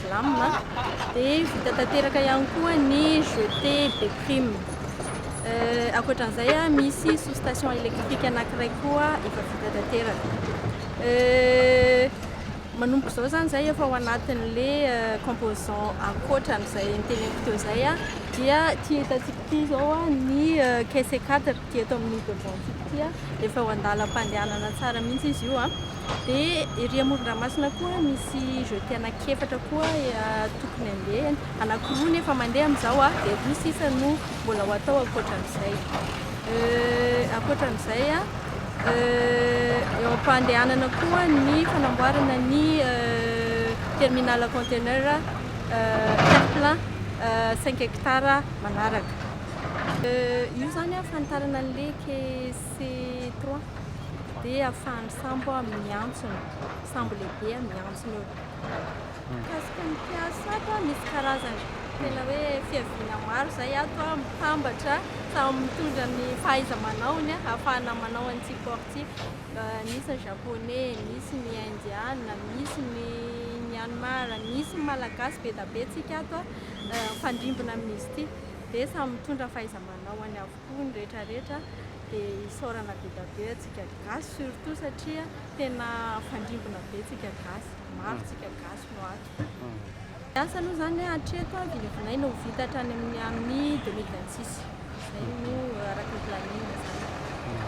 Slam, dia vita tanteraka ihany koa ny Jetée be prime. Ankoatra an'izay, misy sous-station électrique anankiray koa efa vita tanteraka. Manomboka izao izany izay efa ao anatin'ilay composant ankoatra an'izay noteneniko teo izay, dia ity hitantsika ity izao ny caisse 4 ity eto amin'ny devant-ntsika ity, efa ao an-dalam-pandehanana tsara mihitsy izy io. Dia ery amoron-dranomasina koa misy jeté anankiefatra koa tokony handeha, anankiroa no efa mandeha amin'izao dia roa sisa no mbola ho atao ankoatra an'izay. Ankoatra an'izay, eo am-pandehanana koa ny fanamboarana ny terminal conteneur quatre plein cinq hectares manaraka. Io izany fanitarana an'ilay KC trois. dia ahafahan'ny sambo miantsona, sambo lehibe miantsona eo. Mikasika ny mpiasa ato, misy karazany tena hoe fiaviana maro izay ato mitambatra, samy mitondra ny fahaiza-manaony ahafahana manao an'ity porte ity. Misy ny Japoney, misy ny Indiana, misy ny Myanmar, misy ny Malagasy, be dia be isika ato mifandrimbona amin'izy ity dia samy mitondra fahaiza-manaony avokoa. avokoa ny rehetra rehetra dia isaorana be dia be antsika gasy surtout satria tena fandrimbona be tsika gasy maro tsika gasy no ato asa aloha zany hoe hatreto a vinavinaina ho vita hatrany amin'ny amin'ny 2026 zay no araka ny planning zany